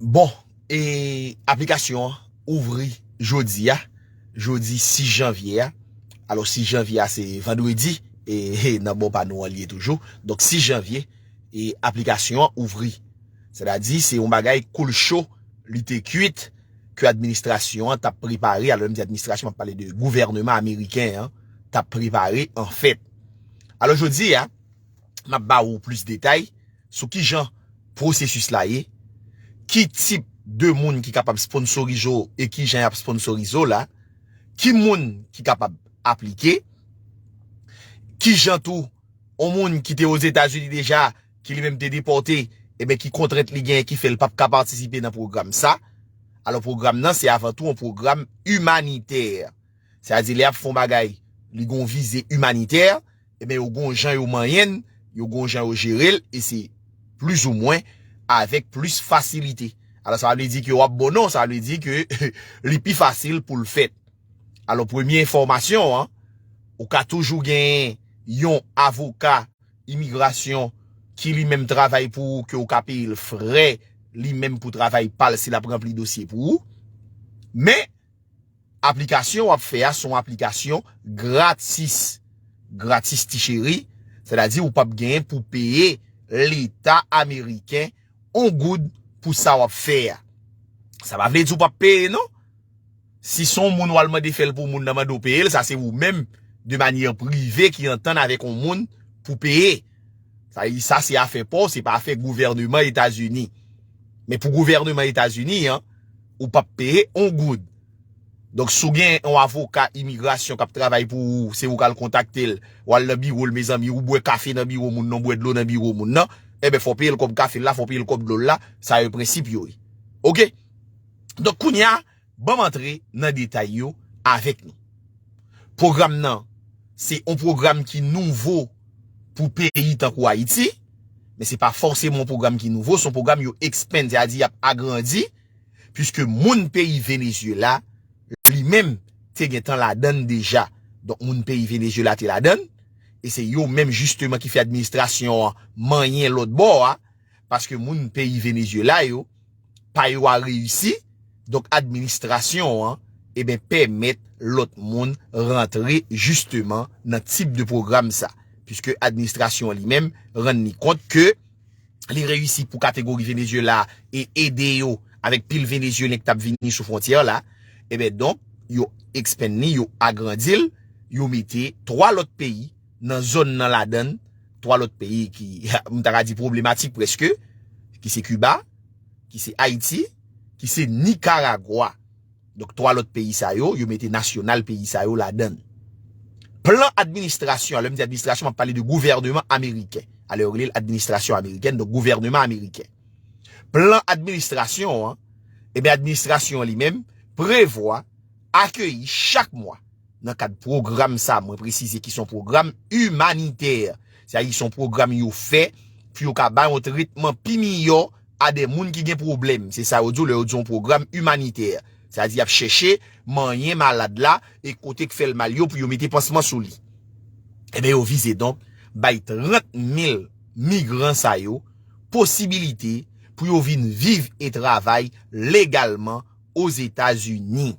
Bon, e aplikasyon an ouvri jodi a, jodi 6 janvye a, alo 6 janvye a se vandredi, e he nan bon pa nou an li ye toujou, donk 6 janvye, e aplikasyon an ouvri. Se ta di, se yon bagay koul cho, li te kuit, ke administrasyon an tap prepare, alo lè m di administrasyon map pale de gouvèneman ameriken an, tap prepare an fèt. Alo jodi a. m ap ba ou plis detay sou ki jan pwosesis la ye, ki tip de moun ki kapab sponsorize w e ki jan y ap sponsorize w la, ki moun ki kapab aplike, ki jan tou yon moun ki te Ozetazini deja ki li menm te depòte eben ki kontrent li genyen ki fè l p ap ka patisipe nan pwogram sa. Alò pwogram nan se avan tou yon pwogram imanitè. Sa vle di lè y ap fè yon bagay li gen yon vize imanitè. Ebyen yo gon jan yo manyen l, yo gon jan yo jere l e se plis ou mwen avèk plis fasilite. Alò sa pa vle di ke w ap bon non, sa vle di ke li pi fasil pou l fèt. Alò premye enfòmasyon an, ou ka toujou genyen yon avoka imigrasyon ki li menm travay pou ou ke ou ka peye l frè li menm pou travay pa l si l ap ranpli dosye pou ou. Men. Aplikasyon wap fè a son aplikasyon gratis. Gratis ti cheri, sè ta di ou pap genyen pou peye leta ameriken on goud pou sa wap fè a. Sa pa vle di ou pap peye non. Si son moun wal mande fèl pou moun nan mande ou peyel sa se ou menm de manyè prive ki antann avèk on moun pou peye. Sa li sa se afè paw se pa afè gouvèneman etazini. Men pou gouvèneman etazini an. ou pap peye on goud. Donk si w gen yon avoka imigrasyon k ap travay pou ou, se ou k al kontakte l, w al nan biwo l mezanmi, ou bwè kafe nan biwo moun nan, ou bwè dlo nan biwo moun nan, enben fò w peye l kòb kafe l la, fò w peye l kòb dlo l la, sa yo prensip yo ye. Ok. Donk kounye a, ban m antre nan detay yo avèk nou. Pwogram nan, se yon pwogram ki nouvo. pou peyi tankou Ayiti, men se pa fòseman yon pwogram ki nouvo, se yon pwogram yo expand, se a di y ap agrandi, puiske moun peyi Venezyela, li menm, te gen tan ladan l deja. Donk moun peyi Venezyela te ladan l, e se yo menm jisteman ki fè administrasyon an manyen lòt bò a, paske moun peyi Venezuela yo pa yo a reyisi donk administrasyon an eben pèmèt lòt moun rantre jisteman nan tip de pwogram sa piske administrasyon an li menm rann li kont ke li reyisi pou kategori Venezuela e ede yo avèk pil Venezuelen ki t ap vini sou fwontyè la eben donk yo ekspann li yo agrandi l yo mete 3 lòt peyi. nan zòn nan ladann 3 lòt peyi ki m ta ka di pwoblematik prèske ki se Kiba ki se Ayiti ki se Nikaragwa donk 3 lòt peyi sa yo yo mete nasyonal peyi sa yo ladann plan administrasyon an lè m di administrasyon m ap pale de gouvèneman ameriken alè yo rele l administrasyon amerikèn donk gouvèneman ameriken plan administrasyon an e ben administrasyon an li menm prevwa akeyi chak mwa Nan kad pwogram sa, mwen presize ki son pwogram imanitè. Se a di son pwogram yo fè pou yo ka bay yon tretman pi miyò a de moun ki gen pwoblèm. Se sa yo di w lè yo di yon pwogram imanitè. Se a di y ap chèche manyen malad la e kote k fè l mal yo pou yo mete pansman sou li. Enben yo vize donk bay 30 mil migran sa yo posibilite pou yo vin viv e travay legalman. Ozetazini.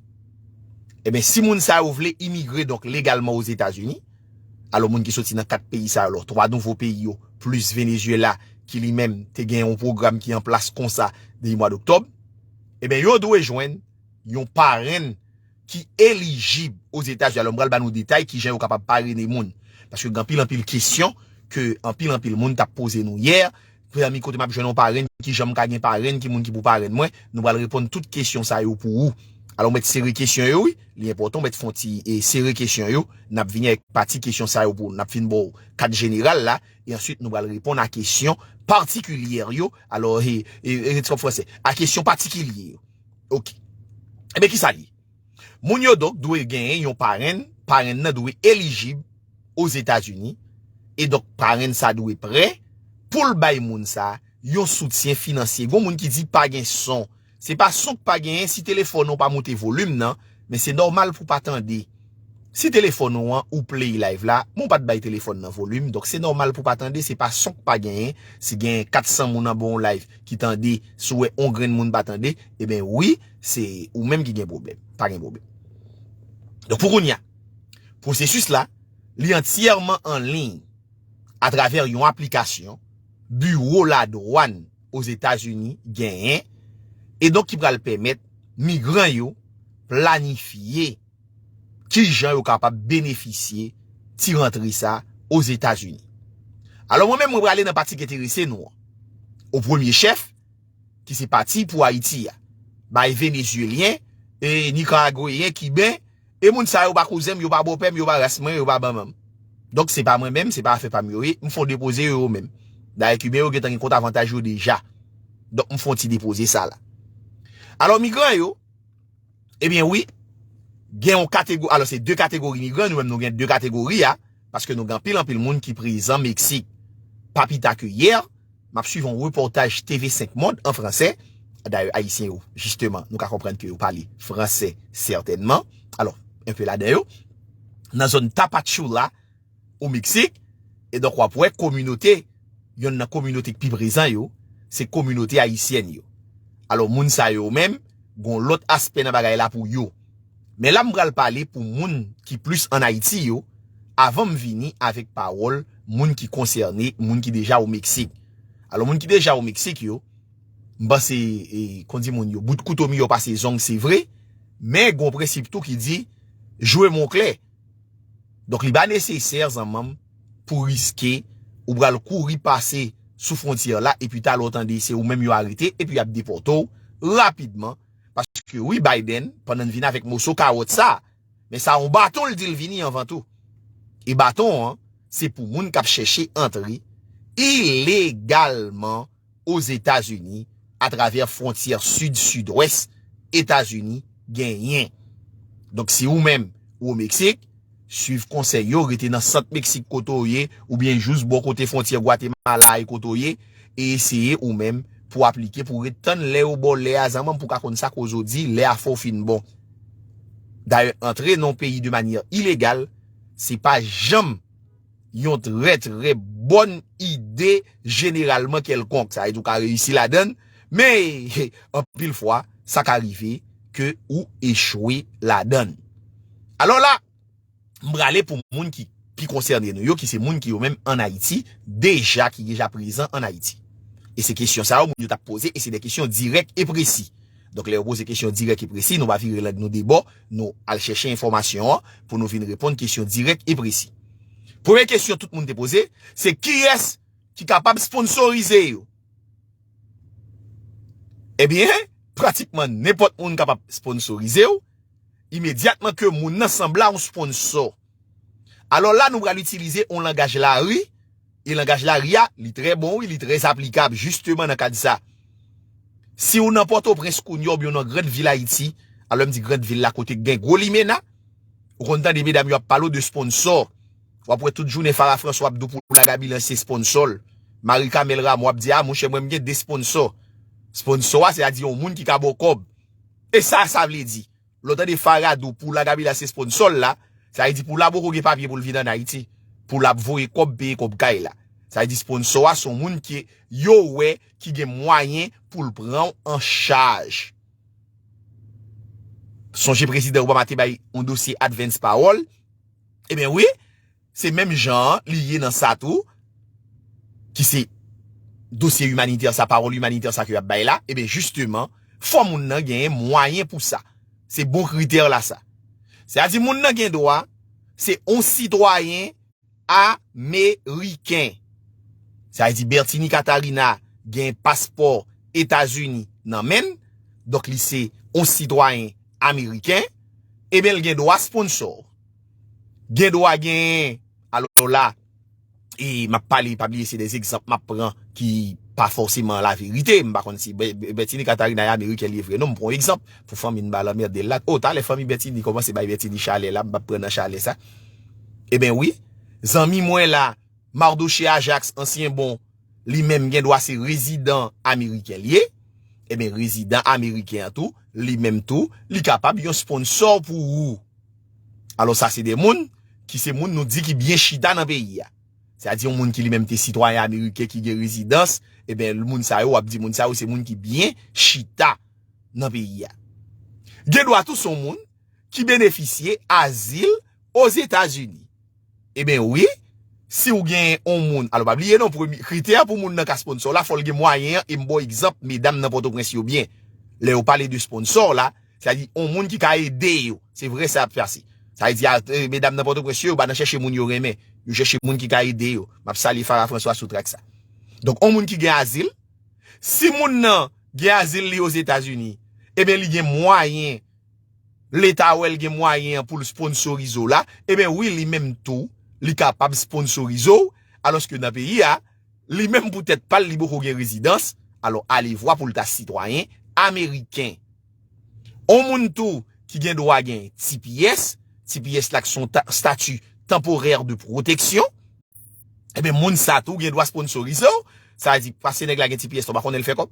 Eben, si moun sa yo vle imigre donk legalman Ozetazini, alò moun ki soti nan 4 peyi sa yo, alò 3 nouvo peyi yo, plis Venezyela ki li menm te gen yon pwogram ki an plas konsa depi mwa doktòb, eben yo dwe jwenn yon parenn ki elijib Ozetazi. Alò m pral ba nou detay kijan yo kapab parene moun. Paske gen anpil anpil kesyon ke anpil anpil moun t ap poze nou yè. Frère mi kote map jwenn yon parenn kijan m ka gen parenn ki moun ki pou parenn mwen nou pral reponn tout kesyon sa yo pou ou alò ou mèt sere kesyon yo wi li enpòtan ou mèt fon ti sere kesyon yo nap vini avèk pati kesyon sa yo pou ou nap fin ba w kad jeneral la e answit nou pral reponn a kesyon patikilye yo alò e e e ti kòb fransè a kesyon patikilye yo ok enben kisa li ye. Moun yo donk dwe genyen yon parenn, parenn nan dwe elijib Ozetazini, e donk parenn sa dwe prè pou l bay moun sa yon soutyen finansye. Gon moun ki di pa gen son. Se pa son k pa genyen si telefòn ou pa moute volim nan, men se nòmal pou pa tande. Si telefòn ou an ou play live la, men w pa t bay telefòn nan volim, donk se nòmal pou pa tande, se pa son k pa genyen, si genyen 400 moun anba yon live ki tande, si w wè yon grenn moun pa tande, eben wi. se ou menm ki gen pwoblèm, pa gen pwoblèm. Donk pou kounya, pwosesis la, li antyèman an liy atravè yon aplikasyon biwo la dwann o Zetazini genyen e donk ki pral pèmèt migran yo planifye ki jan yo kapab benefisye ti rantre sa o Zetazini. Alò mwen menm mwen prale nan pati ki enterese nou an. O premye chèf, ki se pati pou Ayiti a, bay Venezyelyen, e Nikaragweyen, Kiben, e moun sa yo pa kouzen m, yo pa bòpè m, yo pa ras mwen, yo pa manman m. Donk se pa mwen menm, se pa afè pa m yo ye, m fon depoze yo yo menm. Dayè Kiben yo gentan gen kont avantaj yo deja. Donk m fon ti depoze sa la. Alò migran yo, ebyen wi, gen yon kategori, alò se 2 kategori migran, nou menm nou gen 2 kategori a, paske nou gen anpil anpil moun ki prezan Meksik. Pa pi ta ke yè, m ap swiv yon repòtaj TV 5 Monde an franse, dayè Ayisyen yo, jisteman, nou ka konprann ke yo pale franse sètènman, alò, enpe ladan yo, nan zòn Tapachula, o Meksik, e donk w ap wè kominote, yonn nan kominote ki pi prezan yo, se kominote ayisyèn yo. Alò, moun sa yo menm, gen yon lòt aspè nan bagay la pou yo. Men la m pral pale pou moun ki plis an Ayiti yo, avan m vini avèk pawòl moun ki konsène, moun ki deja o Meksik. Alò moun ki deja o Meksik yo, m panse, kon di moun yo, bout kouto miyò pase zong se vre, men gon prensip tou ki di, jwe mo klè. Donk li pa nesesè zanman m pou riske ou pral kouri pase sou fwontyè la epi talè w tande se ou menm yo arete epi y ap depòte w rapidman. Paske wi Biden pandan l vini avèk moso kawòt sa men sa yon baton l di l vini anvan tou. E baton an se pou moun k ap chèche antre ilegalman Ozetazini atravè fwontyè sid sidwès Etazini genyen. Donk si ou menm ou o Meksik, Swiv konsèy yo, rete nan sant Meksik kote w ye, oubyen jous bò kote fwontyè Gwatemala e kote w ye, e eseye ou menm pou aplike pou ret tann lè yo ba w lè a zanmanm pou w ka konn sa koz ou di lè a fè w fin bon. Dayè antre nan yon peyi de manyè ilegal se pa janm. yon trè trè bòn ide jeneralman kèlkonk, sa vle di ou ka reyisi ladan l, men anpil fwa sa ka rive ke ou echwe ladan l. Alò la, m prale pou moun ki pi konsène nou yo, ki se moun ki yo menm an Ayiti, deja ki deja prezan an Ayiti. E se kesyon sa yo moun yo t ap poze e se de kesyon dirèk e presi. Donk lè yo poze kesyon dirèk e presi, nou pa vire lang nou debò, nou al chèche enfòmasyon an pou nou vin reponn kesyon dirèk e presi. Premye kesyon tout moun te poze, se kiyès ki kapab sponsorize yo? Ebyen, pratikman nenpòt moun kapab sponsorize w, imedyatman ke moun nan sanble a yon sponsor. Alò la nou pral itilize yon langaj lari, e langaj lari a, li trè bon wi, li trè aplikab jisteman nan kad sa. Si w nan Pòtoprens kounye a oubyen w nan gran vil Ayiti, a lè m di gran vil la kote k gen gwo limena, ou konn tande medam yo ap pale w de sponsò. W ap wè tout jounen Farah François ap di w pou w la Gabilans se sponsò l. Marie Carmelle Rameau ap di a monchè mwen m gen 2 sponsò. Sponsò a se ta di yon moun ki ka ba w kòb. E sa sa vle di? Lè w tande Farah di w pou la Gaby la se sponsò l la, sa vle di pou la poko gen papye pou l vin ann Ayiti, pou l ap voye kòb, peye kòb kay la. Sa vle di sponsò a se yon moun ke yo wè ki gen mwayen pou l pran w an chaj. Sonje Prezidan Obama te bay yon dosye Advance pawòl. Eben wi! Se menm jan an li ye nan sa tou, ki se dosye imanitè sa, pawòl imanitè sa ke y ap bay la, eben jisteman, fò moun nan genyen mwayen pou sa. Se bon kritè la sa. Se a di moun nan gen dwa, se on sitwayen ameriken. Sa vle di Bertinie Catarina genyen paspò Etazini nan menn, donk li se on sitwayen ameriken, eben l gen dwa sponsò. Gen dwa genyen. Alò la, e m ap pale, pa bliye se de egzanp m ap pran ki pa fòseman la verite. M pa konn si Bètini Katarina e amerikèn li vre non. M pran yon egzanp pou fanmi n pa lanmerde l la. O, talè fanmi Bètini kòmanse bay Bètini chalè la, m pa pran nan chalè sa. Eben wi, zanmi mwen la, Mardochée Ajax, ansyen bon, li menm gen dwa se rezidan ameriken li ye. Eben rezidan ameriken an tou, li menm tou, li kapab yon sponsò pou ou. Alò sa se 2 moun ki se moun nou di ki byen chita nan peyi a. Se a di yon moun ki li menm te sitwayen ameriken ki gen rezidans, e ben moun sa yo w ap di moun sa yo se moun ki byen chita nan peyi a. Gen dwa tou se yon moun ki benefisye azil Ozetazini. Eben wi, si ou gen yon moun, alo pa bliye non, kritè pou moun nan ka sponsor w la, fò l gen mwayen an, e m ba w egzanp medam nan Pòtoprens yo byen, lè yo pale de sponsor la, sa di yon moun ki ka ede yo, se vre sa y ap pase. Sa vle di medam nan Pòtoprens yo, yo pa nan chèche moun yo renmen, yo chèche moun ki ka ede yo, m ap salye Farah François sou trak sa. Donk yon moun ki gen azil, si moun nan gen azil li Ozetazini, eben li gen mwayen, Leta wèl gen mwayen an poul sponsorize w la eben wi li menm tou li kapab sponsorize w alòske nan peyi a li menm pou tèt pal li poko gen rezidans alò alevwa poul ta sitwayen ameriken on moun tou ki gen dwa gen tps tps la k son stati tanporè de pwoteksyon Ebyen moun sa tou gen dwa sponsorize w. Sa vle di pase nèg la gen ti pyès la w pa konnen l fè kòb.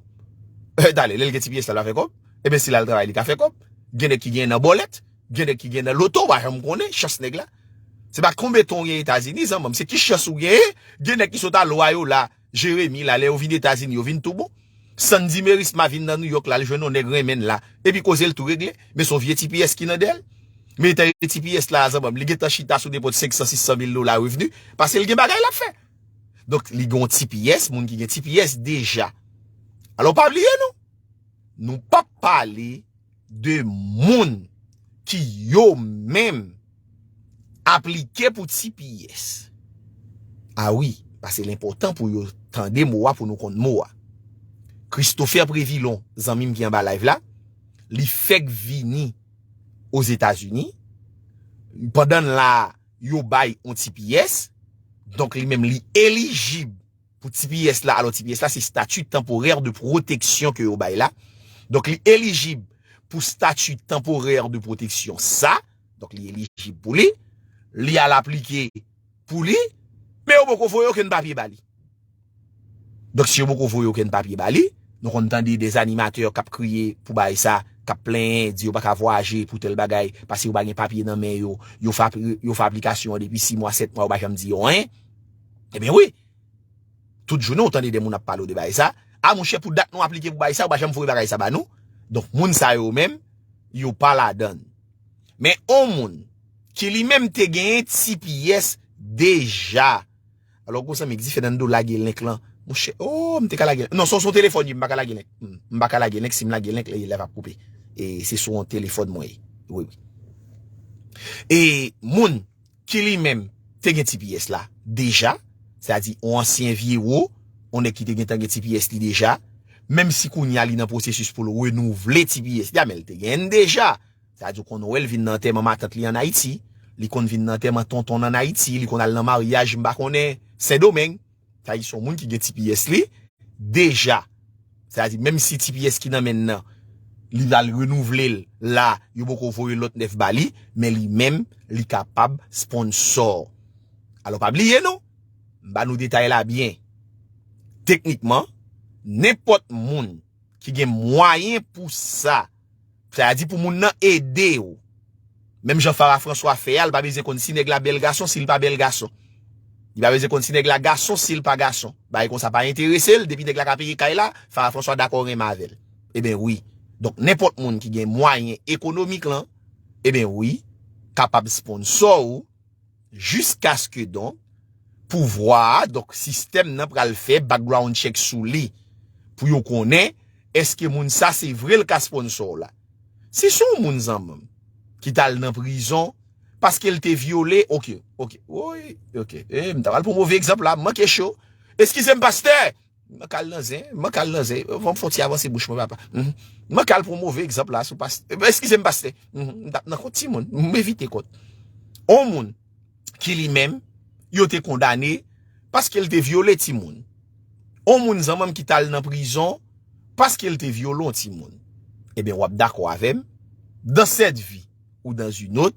Dale lè l gen ti pyès la l pa fè kòb. Ebyen si l al travay li ka fè kòb. Gen nèg ki genyen nan bòlèt. Gen nèg ki genyen nan loto w pa janm konnen chans nèg la. Se pa konbeton w genyen Etazini zanman m. Se ki chans ou genyen. Gen nèg ki sot al Loyola. Jeremi la lè yo vin etazini yo vin tou bon Sandy merisma vin nan nouyòk la al jwenn yon nèg renmenn la epi kozel tou regle men son vye tipiyès ki nan dèyèl men etan e tipiyès la a zanmanm li gentan chita sou depot 500 600 mil dola revni pasel gen bagay lap fè donk li gen yon tipiyès moun ki gen tipiyès deja alò pa bliye nou nou pap pale de moun ki yo menm aplike pou tps. A wi, pase l enpòtan pou yo tande mo a pou nou konn mo a. Christopher Prévilon, zanmi m ki anba live la, li fèk vini Ozetazini, pandan l la, yo bay yon tps, donk li menm li elijib. Pou tps la, alò tps la se Statut Temporaire de Protection ke yo bay la, donk li elijib pou Statut Temporaire de Protection sa, donk li elijib pou li, li al aplike pou li, men yo poko voye okenn papye ba li. Donk si yo poko voye okenn papye ba li, nou konn tande des animateurs kap kriye pou bagay sa, kap plenyen, di yo pa ka vwayaje pou tèl bagay, pase yo pa gen papye nan men yo, yo fè aplikasyon an depi 6 mwa, 7 mwa yo pa janm di yo anyen. Ebyen wi, tout jounen ou tande de moun ap pale ou de bagay sa, a monchè pou dat nou aplike pou bagay sa ou pa janm voye bagay sa ba nou, donk moun sa yo menm yo pa ladann. Men on moun ki li menm te genyen tps deja, alò gwo zanmi di Fernando lage link lan, monchè oo m te ka lage, non son son telefòn ye m pa ka lage link, m pa ka lage link si m lage link li live ap koupe, e se sou on telefòn mwen ye, wi wi. E moun. ki li menm te gen tps la deja, sètadi yon ansyen vyewo, yon nèg ki te gentan gen tps li deja, menm si kounye a li nan pwosesis pou l renouvle tps li a, men li te genyen l deja, sètadi ou konn wè l vin nan antèman matant li ann Ayiti, li konn vin nan antèman tonton l ann Ayiti, li konn al nan maryaj m pa konnen Sendomeng. Sa di se yon moun ki gen tps li deja. Sa di menm si tps ki nan menn nan li pral renouvle l la yo poko voye lòt nèf ba li men li menm li kapab sponsor. Alò pa bliye nou, m ba nou detay la byen. Teknikman nenpòt moun ki gen mwayen pou sa. Sa a di pou moun nan ede ou. Menm jan Farah François fè a, li pa bezyen konn si nèg la bèl gason, si li pa bèl gason. Li pa bezyen konn si nèg la gason, si li pa gason. Bagay konsa pa enterese l, depi nèg la ka peye kay la, Farah François dakò renmen avè l. Eben wi. Donk nenpòt moun ki gen mwayen ekonomik lan, eben wi, kapab sponsor ou. jiskaske donk pouvwa a, donk sistèm nan pral fè background check sou li pou yo konnen eske moun sa se vre l ka sponsor w la. Si se yon moun zanman m ki t al nan prizon paske l te vyole, ok, ok, woy, ok, e m ta pral pran move egzanp la, m manke cho, eskize m pastè! Mwen kal nan zen, mwen kal nan zen, mwen fon ti avanse bouch mwen papa. Mhm. Mwen kal pou move egzamp la sou pas. Eh, Eskize m paste. Mhm. M tap nan kont ti moun, m evite kont. On moun ki li menm yo te kondane paske l te vyole ti moun. On moun zanman m ki tal nan prizon paske l te vyolon ti moun. Eben wap dako avem, dan set vi ou dan zi not,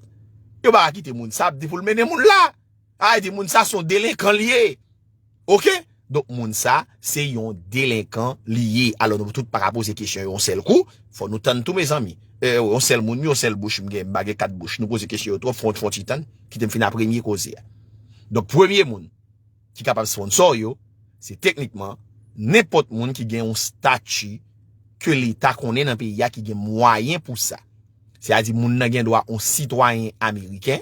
yo ba akite moun sa ap di pou l menen moun la. A di moun sa son delenkan liye. Ok donk moun sa se yon delenkan li ye alò nou tout pa ka poze kesyon yon sèl kou fò nou tann tou mezanmi ew yon sèl moun yon sèl bouch m gen m pa gen 4 bouch nou poze kesyon yo twòp fon ti tann kite m finn a premye koze a donk premye moun ki kapab sponsò yo se teknikman nenpòt moun ki gen yon stati ke leta konnen nan peyi a ki gen mwayen pou sa. Se a di moun nan gen dwa on sitwayen ameriken,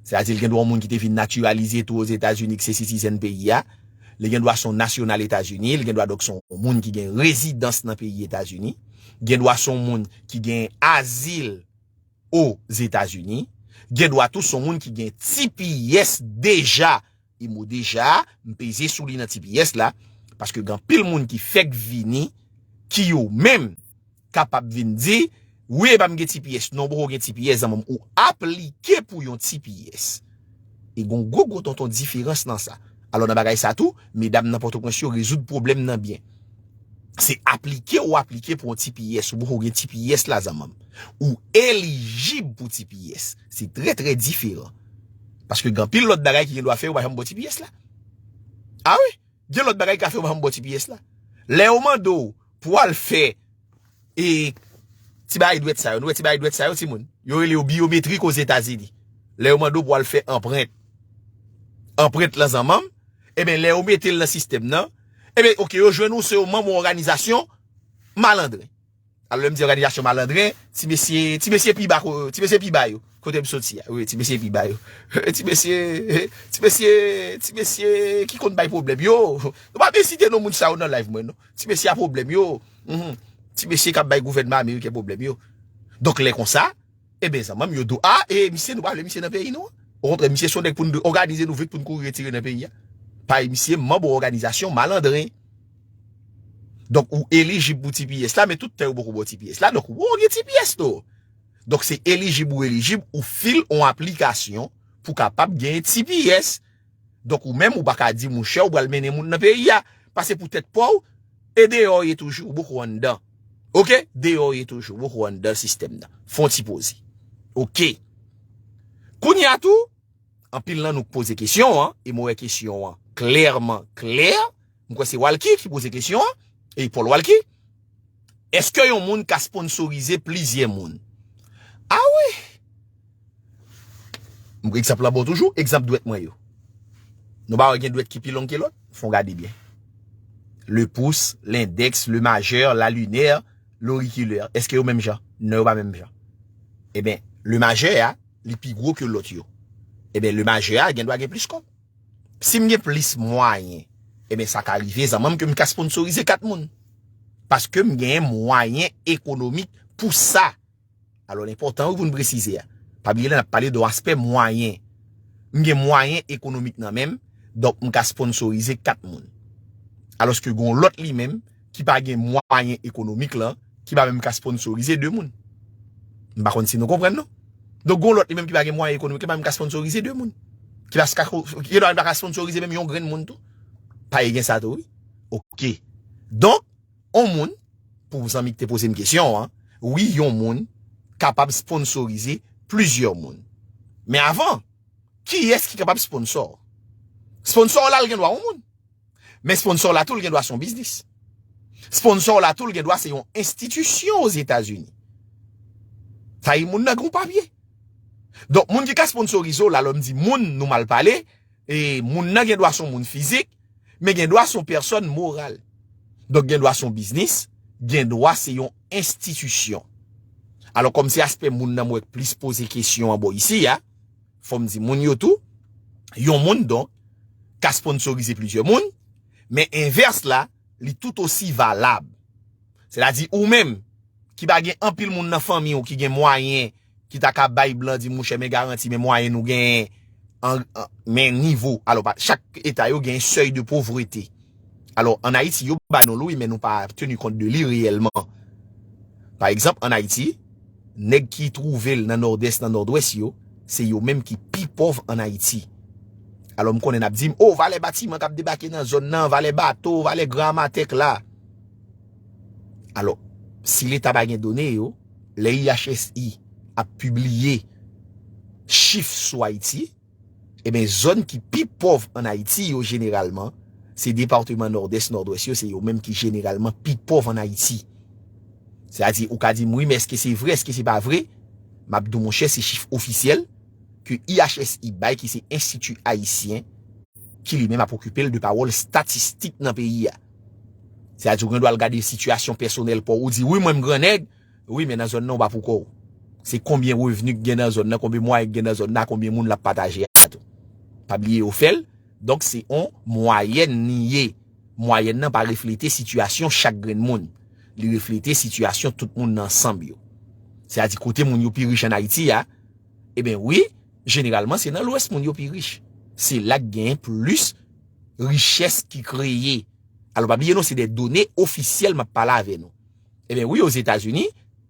se a di li gen dwa on moun ki te vin natiralize tou o Zetazini ki se sitizen peyi a, li gen dwa son nasyonal Etazini, li gen dwa donk son moun ki gen rezidans nan peyi Etazini, gen dwa son moun ki gen azil o Zetazini, gen dwa tou son moun ki gen tps deja. E mo deja a, m peze sou li nan ti pyès la, paske gen anpil moun ki fèk vini, ki yo menm kapab vin di, wi epa m gen ti pyès, non poko gen ti pyès zanman m, ou aplike pou yon ti pyès. E gen yon gwo gwo tonton diferans nan sa. Alò nan bagay sa tou, medam nan Pòtoprens yo rezoud pwoblèm nan byen. Se aplike ou aplike pou yon ti pyès, ou poko gen ti pyès la zanman m. Ou elijib pou ti pyès. Se trè trè diferan. Paske gen anpil lòt bagay ki gen dwa fè yo pa janm bò ti pyès la. A wi, gen lòt bagay ki ka fè yo pa janm bò ti pyès la. Lè yo mande w pou al fè e ti bagay dwèt sa yo, nou wè ti bagay dwèt sa yo timoun? Yo rele yo byometrik ozetazini. Lè yo mande w pou al fè anprent, anprent lan zanmanm, e ben lè yo mete l nan sistèm nan, e ben ok yo jwenn ou se yon manm yon òganizasyon malandren. Alò lè m di òganizasyon malandren, ti mesye, ti mesye pi ba, ti mesye pi ba yo, kote m soti a, wi, ti mesye pi ba yo, ti mesye, ti mesye, ti mesye ki konn bay pwoblèm yo, nou pa byen site non moun sa yo nan live mwen non, ti mesye a pwoblèm yo, ti mesye k ap bay gouvènman ameriken pwoblèm yo. Donk lè konsa. Eben zanmanm yo do a e misye nou pa vle misye nan peyi nou an. Okontrè misye son nèg pou nou òganize nou vit pou nou kouri retire nan peyi a. Pay misye manb ou òganizasyon malandren. Donk ou elijib pou tps la men tout tan yo poko baw tps la donk wou gen tps tou. Donk se elijib ou elijib ou fil on aplikasyon pou kapab gen tps. Donk ou menm ou pa ka di mouche ou pral mennen moun nan peyi a. Pase pou tèt pa w, e deyò w ye toujou, ou poko anndan. Ok, deyò w ye toujou, ou poko anndan sistèm nan. Fon ti poze. Ok. Kounye a tou, anpil nan nou k poze kesyon an, e mwen wè kesyon an klèman klè. M kwè se Walky ki poze kesyon an, e Paul Walky. Eske yon moun ka sponsorize plizyè moun? A wi! M pran egzanp la ba w toujou, egzanp dwèt mwen yo. Nou pa wè gen dwèt ki pi long ke lòt? Fon gade byen. Le pouce, l'index, le majeur, la lunaire, l'auriculaire. Eske yo menm jan? Non yo pa menm jan. E ben, le majeur a, li pi gwo ke lòt yo. E ben, le majeur a gen dwa gen plis kòb. Si m gen plis mwayen, eben sa ka rive zanman m ke m ka sponsorize 4 moun. Paske m gen mwayen ekonomik pou sa. Alo l enpotan wi pou n presize a. Pa bliye la n ap pale de yon aspè mwayen. M gen mwayen ekonomik nan menm, donk m ka sponsorize 4 moun. Aloske gen yon lot li menm. ki pa gen mwayen ekonomik lan, ki pa menm ka sponsorize 2 moun. M pa konn si nou konprann non. Donk gon lòt li menm ki pa gen mwayen ekonomik, li pa menm ka sponsorize 2 moun. Ki pa ska, gen dwa li pa ka sponsorize menm yon grenn moun tou. Paye gen sa tou wi. Ok. Donk, on moun, pou zanmi ki te poze m kesyon an, wi yon moun kapab sponsorize plizyè moun. Men avan, kiyès ki kapab sponsò? Sponsò w la li gen dwa on moun. Men sponsor la tou l gen dwa se yon biznis. Sponsor la tou l gen dwa se yon enstitisyon o Zetazini. Sa yi moun nan gen yon papye. Donk moun ki ka sponsorize w la, lè m di moun nou mal pale, e moun nan gen dwa se yon moun fizik, men gen dwa se yon pèsòn moral. Donk gen dwa se yon biznis, gen dwa se yon enstitisyon. Alò kòm se aspè moun nan m wè k plis poze kesyon an bò isi a, Fò m di moun yo tou, yon moun donk ka sponsorize plizyè moun, men envès la, li tout osi valab. Sètadi ou menm ki pa gen anpil moun nan fanmi ou ki gen mwayen ki ta ka bay blan di mouche men garanti men mwayen nou genyen an men nivo, alò pa chak eta yo genyen sèy de povrete. Alò, an Ayiti, yo ba nou l wi men nou pa teni kont de li reyèlman. Pa egzanp, an Ayiti, nèg ki twouve l nan Nòdès, nan Nòdwès yo, se yo menm ki pi pòv an Ayiti. Alò, m konnen n ap di m, o, valè batiman k ap debake nan zòn nan, valè bato, valè gran amatèk la. Alò, si Leta pa gen done yo, lè IHSI ap pibliye chif sou Ayiti, Eben zòn ki pi pòv an Ayiti yo jeneralman se departeman Nòdès, Nòdwès yo se yo menm ki jeneralman pi pòv an Ayiti. Se a di ou ka di m wi men eske se vre eske se pa vre m ap di w monchè se chif ofisyèl ke IHSI bay ki se Enstiti Ayisyen ki li menm ap okipe l de pawòl statistik nan peyi a. Se a di ou gen dwa al gade sitiyasyon pèsonèl pa w ou di wi mwen m gran nèg Wi men nan zòn nan ou pa pou kò ou. Se konbyen revni ki gen nan zòn nan, konbyen mwayen ki gen nan zòn nan, konbyen moun lap pataje a tou. Pa bliye yo fèl, donk se on mwayèn li ye. Mwayèn nan pa reflete sitiyasyon chak grenn moun. Li reflete sitiyasyon tout moun nan ansanm yo. Se a di kote moun yo pi rich an Ayiti a, e ben wi, jeneralman se nan lwès moun yo pi rich. Se la ki gen plis richès ki kreye. Alò pa bliye nou se de done ofisyèl map pale avè nou. Ebyen wi ozetazini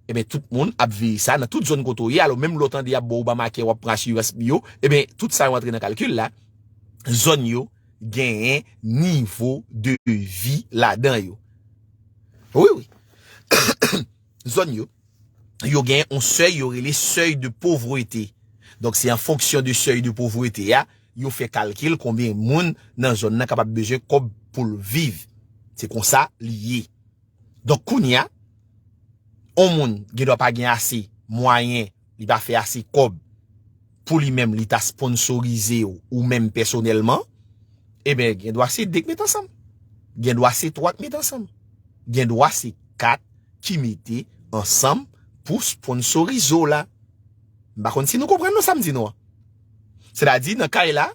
Ebyen tout moun ap veye sa nan tout zòn kote w ye alò menm lè w tande y ap ba w Obamacare w ap pran asirans biyo ebyen tout sa yo antre nan kalkil la zòn yo genyen nivo de vi ladan yo wi wi zòn yo yo genyen yon sèy yo rele sèy de povrete donk se an fonksyon de sèy de povrete a yo fè kalkil konbyen moun nan zòn nan kapab bezwen kòb pou l viv se konsa li ye. Donk kounye a, yon moun gen dwa pa gen ase mwayen, li pa fè ase kòb pou li menm li ta sponsorize w ou menm pèsonèlman, eben gen dwa se 2 k met ansanm, gen dwa se 3 k met ansanm, gen dwa se 4 ki mete ansanm pou sponsorize w la. M pa konn si nou konprann non sa m di nou an. Sètadi nan kay la,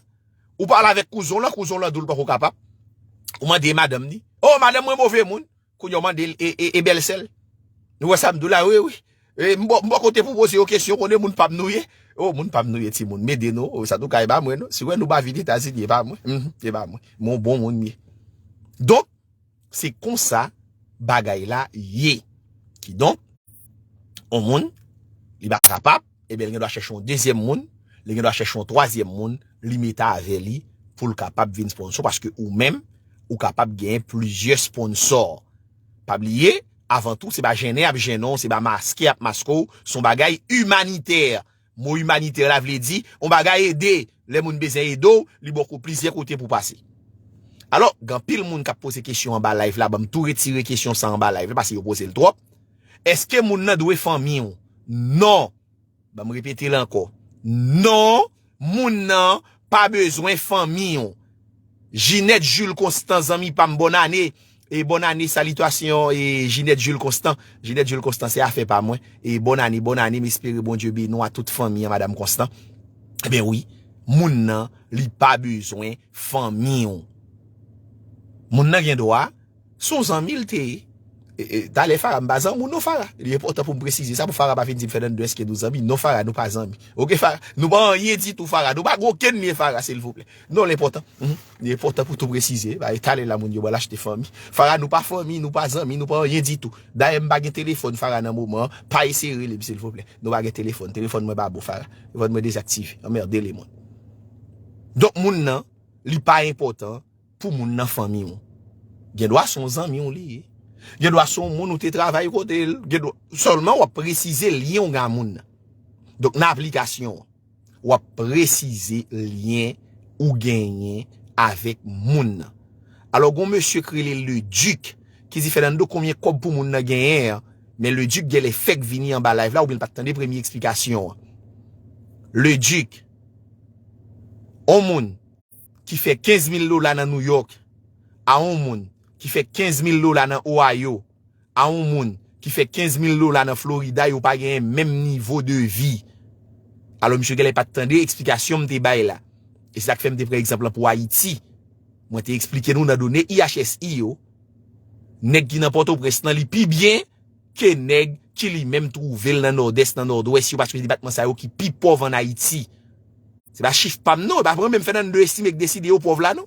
Ou pale avèk kouzon lan, kouzon lan di w li poko kapab. Ou mande e madanm ni. Oh madanm mwen move moun. Kounye w mande l e bèlsè l. Nou wè sa m di w la wi wi. E m bò kote pou poze yo kesyon konnen moun pa m nou ye. Oh moun pa m nou ye timoun. M ede nou. Sa tou ka e pa mwen non. Si wè nou ba vini Etazini e pa mwen. Mph e pa mwen. M yon bon moun m ye. Donk. Se konsa bagay la ye. Ki donk, yon moun, li pa kapab, e ben li gen dwa chèche yon dezyèm moun, li gen dwa chèche yon twazyèm moun, li mete avè li pou l kapab vin sponsò, paske ou menm, ou kapab genyen plizyè sponsò. Pa bliye, avan tou, se pa jennen y ap jennen w, se pa maske y ap maske w, se yon bagay imanitè. Mo imanitè la vle di yon bagay ede, lè moun bezyen ede w, li bò kou plizyè kote pou pase. Alò, gen anpil moun k ap poze kesyon anba live la, ban m tou retire kesyon sa anba live la pase yo poze l twòp, Èske moun nan dwe fanmi w? Non! Ban m repete l ankò, Non! Moun nan pa bezwen fanmi w. Ginette Jules Constant, zanmi pa m, bòn ane! E bonne année salitasyon e Ginette Jules Constant Ginette Jules Constant se afè pa mwen e bonne année bonne année m espere Bondye beni w a tout fanmi an madame Constant ebyen wi moun nan li pa bezwen fanmi w moun nan gen dwa se yon zanmi l te ye e talè Farah m pa zanmi w non Farah li enpòtan pou m presize sa pou Farah pa vin di m Fernando èske nou zanmi non Farah nou pa zanmi ok Farah nou pa anyen ditou Farah nou pa gen okenn lyen Farah silvouplè. Non li enpòtan, li enpòtan pou tou presize, ba e tale la moun yo ba lachte fanmi. Fara nou pa fanmi, nou pa zanmi, nou pa anyen ditou. Dayè m pa gen telefòn fara nan moman an, pa eseye rele m silvouplè. Nou pa gen telefòn, telefòn mwen pa bon fara. Telefòn mwen dezaktive, anmerde le moun. Donk moun nan, li pa enpòtan pou moun nan fanmi w. Gen dwa son zanmi w li ye. Gen dwa son moun ou te travay kote l. Sèlman w ap presize lyen w gen a moun nan. Donk nan aplikasyon an. Wap presize lien ou genyen avek moun nan. Alo gon mesye ki rele le duc ki di Fernando konbyen kob pou moun nan genyen an men le duc gèlè fèk vini anba live la oubyen li pat tande premye eksplikasyon an. Le duc on moun ki fè 15 mil dola nan New York a on moun ki fè 15 mil dola nan Ohio. a yon moun ki fè 15 mil dola nan Florida yo pa genyen menm nivo de vi. Alò misye genlè pat tande eksplikasyon m te bay la. E se sa k fè m te pran egzanp lan pou Ayiti. Mwen te eksplike nou nan done IHSI yo, nèg ki nan Pòtoprens lan li pi byen ke nèg ki li menm twouve l nan Nòdès, nan Nòdwès yo paske se depatman sa yo ki pi pòv an Ayiti. Se pa chif pa m non, e pa mwen menm Fènando Estime k deside yo pòv la non.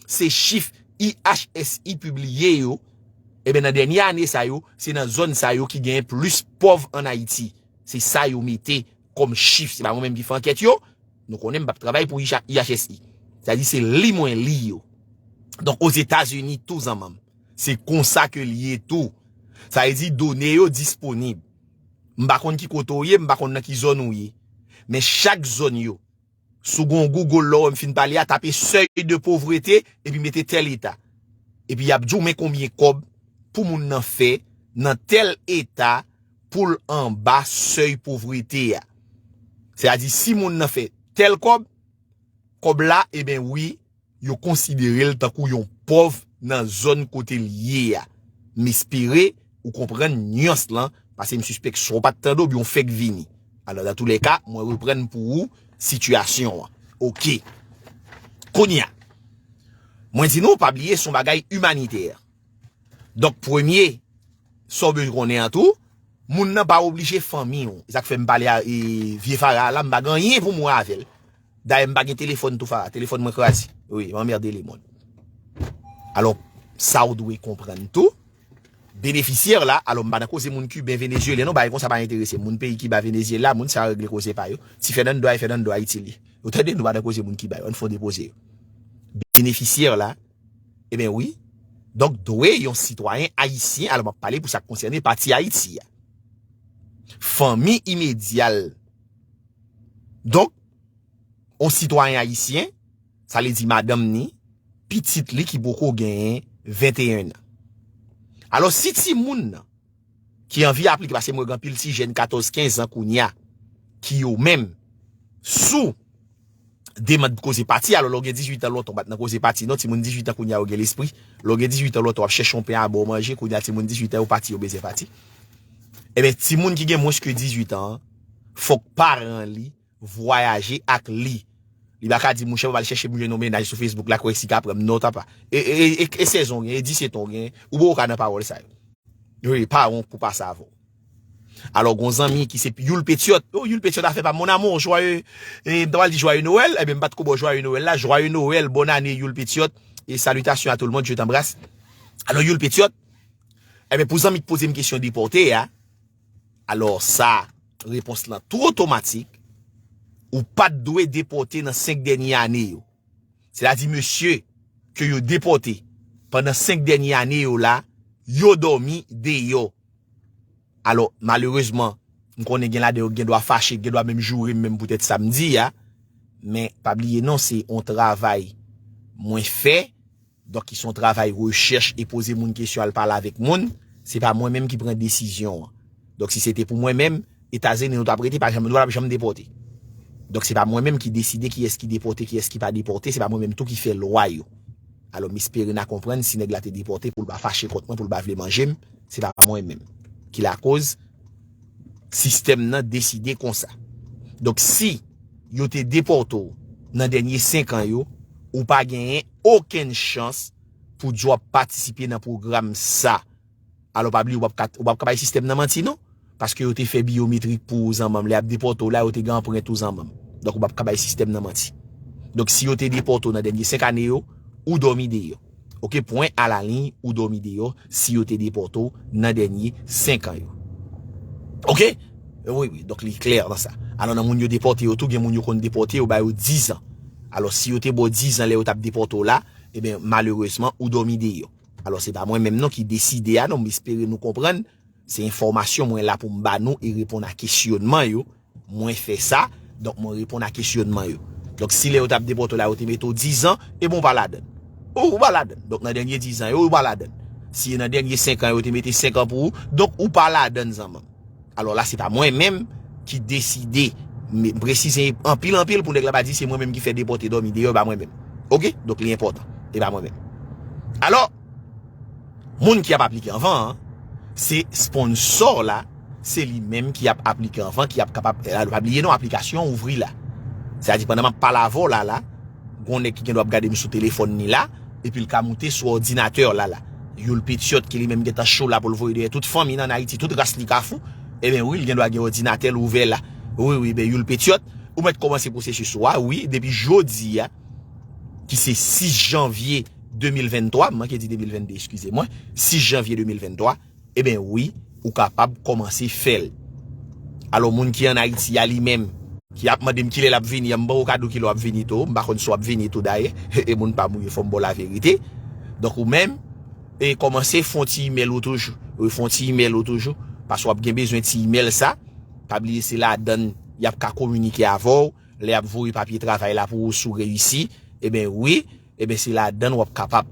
se chif IHSI pibliye yo, eben nan dènye ane sa yo, se nan zòn sa yo ki genyen plis pòv an Ayiti. Se sa yo mete kòm chif. Se pa mwen menm ki fè ankèt yo, nou konnen m pa p travay pou IHSI. Sa di se li mwen li yo. Donk Ozetazini tou zanman m. Se konsa ke li ye tou. Sa vle di done yo disponib. M pa konn ki kote ou ye, m pa konn nan ki zòn ou ye. Men chak zòn yo. Sou gon Google lè w wè m fin pale a tape seuil de pauvreté epi mete tel eta. Epi yap di w men konbyen kòb pou moun nan fè nan tel eta pou l anba seuil pauvreté a. Se a di si moun nan fè tel kòb, kòb la eben wi Yo konsidere l tankou yon pòv nan zòn kote l ye a. M espere ou konprann nyans lan, pase m sispèk sa w pa t tande oubyen w fèk vini. Alò, datoulèka, mwen reprann pou ou sitiyasyon an. Oke. Kounye a, mwen di nou, pa bliye se yon bagay imanitè. Donk, premye, sa w bezwen konnen an tou, moun nan pa oblije fanmi w. Se sa k fè m pale a vye Fara a la, m pa gen anyen pou m wè avè l. Dayè m pa gen telefòn tou Farah, telefòn mwen kraze. Wi, m anmerde le mond. Alò, sa ou dwe konprann tou, benefisyè la, alò m pa nan koze moun Kiben, Venezyelyen non, bagay konsa pa enterese m. Moun peyi Kiba, Venezyela, moun sa yo regle koze pa yo. Ti Fènando a e Fènando a itil li. Ou tande, nou pa nan koze moun Kiba yo, an fon depoze yo. Benefisyè la, e ben wi, donk dwe yon sitwayen Ayisyen, alò m ap pale pou sa k konsène pati Ayiti a. Fanmi imedyal. Donk, yon sitwayen ayisyen, sa vle di madanm ni, pitit li ki poko gen 21 nan. Alò, si ti moun nan, ki anvi aplike, pase mwen gen anpil ti jèn 14, 15 an kounya, ki yo menm, sou. demand pou koze pati alò lè w gen 18 an lontan w pat nan koze pati non timoun 18 an kounya yo gen lespri lè w gen 18 an lontan wap chèche yon pen a baw manje kounya timoun 18 an yo pati yo bezyen pati enben timoun ki gen mwens ke 18 an fòk paran li vwayaje ak li li pa ka di mouche map al chèche m jwenn yon mennaj sou facebook la kwè si ka pranm non tap e 16 an w gen e 17 an w gen ou poko ka nan pawòl sa yo wi paran w kou pase avèw. Alò gon zanmi ki se Youl Petyòt, oh Youl Petyòt afè pam mon amour joyeux, e m ta pral di joyeux Noël, enben m pat ko ba w joyeux Noël la, joyeux Noël, bonne année Youl Petyòt, e salutation a tout le monde, je t'embrasse. Alò Youl Petyòt, enben pou zanmi k poze m kesyon depòte a, alò sa repons lan tou otomatik, ou pat dwe depòte nan 5 dènye ane yo. Se ta di mesye ke yo depòte pandan 5 dènye ane yo la, yo dòmi deyò. Alò, malerezman, m konnen gen ladan yo ki gen dwa fache, ki gen dwa menm joure m menm poutèt sa m di a, men pa bliye non se yon travay mwen fè, donk ki se yon travay rechèch e poze moun kesyon al pale avèk moun, se pa mwen menm ki pran desizyon an. Donk si se te pou mwen menm, Etazini nou t ap rete, pa janm, nou pa t ap janm depòte. Donk se pa mwen menm ki deside kiyès ki depòte, kiyès ki pa depòte, se pa mwen menm tou ki fè lwa yo. Alò m espere n a konprann si nèg la te depòte pou l pa fache kont mwen, pou l pa vle manje m, Se pa mwen menm ki la koz sistèm nan deside konsa. Donk si yo te depòte ou nan dènye 5 an yo, ou pa genyen okenn chans pou di w ap patisipe nan pwogram sa. Alò pa bliye ou pap ka bay sistèm nan manti non. Paske yo te fè biometric pou ou zanmanm lè yap depòte w la yo te gen anprent ou zanmanm donk ou pap ka bay sistèm nan manti donk si yo te depòte w nan dènye 5 ane yo ou dòmi deyò ok pwen a la liy ou dòmi deyò si yo te depòte w nan dènye 5 an yo ok wi wi donk li klè nan sa alò nan moun yo depòte yo tou gen moun yo konn depòte yo ba yo 10 an alò si yo te ba w 10 an lè yo tap depòte w la eben malerezman ou dòmi deyò alò se pa mwen menm non ki deside a non m espere nou konprann. Se enfòmasyon mwen la pou m ba nou e reponn a kesyonman yo, mwen fè sa, donk mwen reponn a kesyonman yo. Donk si lè yo t ap depòte w la yo te mete w dizan, e bon ou pa ladan l. Ou, ou pa ladan l. Donk nan dènye dizan yo, ou pa ladan l. Si e nan dènye senkan yo te mete senkan pou ou, donk ou pa ladan l zanman m. Alò la se pa mwen menm ki deside, m presize anpil anpil pou nèg la pa di se mwen menm ki fè depòte dòmi deyò, e pa mwen menm. Oke? Donk li enpòtan. E pa mwen menm. Alò! Moun ki ap aplike anvan an, se sponsò la, se li menm ki ap aplike anvan, ki ap kapab, e la nou pa bliye non aplikasyon an ouvri la. Sa di pandan map pale avè w la la, gon nèg ki gen dwa ap gade m sou telefòn ni la, epi l ka moute sou òdinatè la la. Youl Petyòt ki li menm gen tan cho la pou l voye dèyè tout fanmi l an Ayiti, tout ras li Kafou, e ben wi l gen dwa gen òdinatè l ouvè la. Wi wi, e ben Youl Petyòt, ou mèt kòmanse pwosesis ou a wi, depi jodi a, ki se 6 janvye. 2023, m manke di 2022 eskize mwen, 6 janvye 2023, eben wi ou kapab kòmanse fè l. Alò moun ki an Ayiti a li menm. Ki ap mande m kilè l ap vini an, m ban ou kado kilè w ap vini tou, m pa konn si w ap vini tou dayè, e moun pa m ou ye fò m ba w laverite. Donk ou menm, e kòmanse fon ti imèl ou toujou, e fon ti imèl ou toujou, paske w ap gen bezwen ti imèl sa, pa bliye se ladan l y ap ka kominike avè w, lè y ap voye papye travay la pou ou si w reyisi, eben wi. Eben se ladann wap kapab.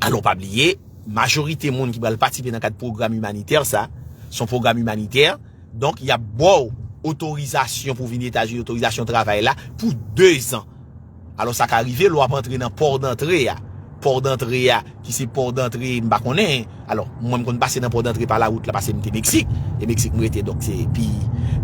Alon pa bliye, majorite moun ki pral patisipe nan kad pwogram imanitè sa, son pwogram imanitè, donk yap baw otorizasyon pou vini Etazini, otorizasyon travay la pou 2 zan. Alon sa ka rive lè wap antre nan pò dantre a, pò dantre a. Ki se port d'entrée m pa konnen. Alò, mwen m konn pase nan port d'entrée pa la wout la pase m te Meksik. E Meksik m rete donk se pi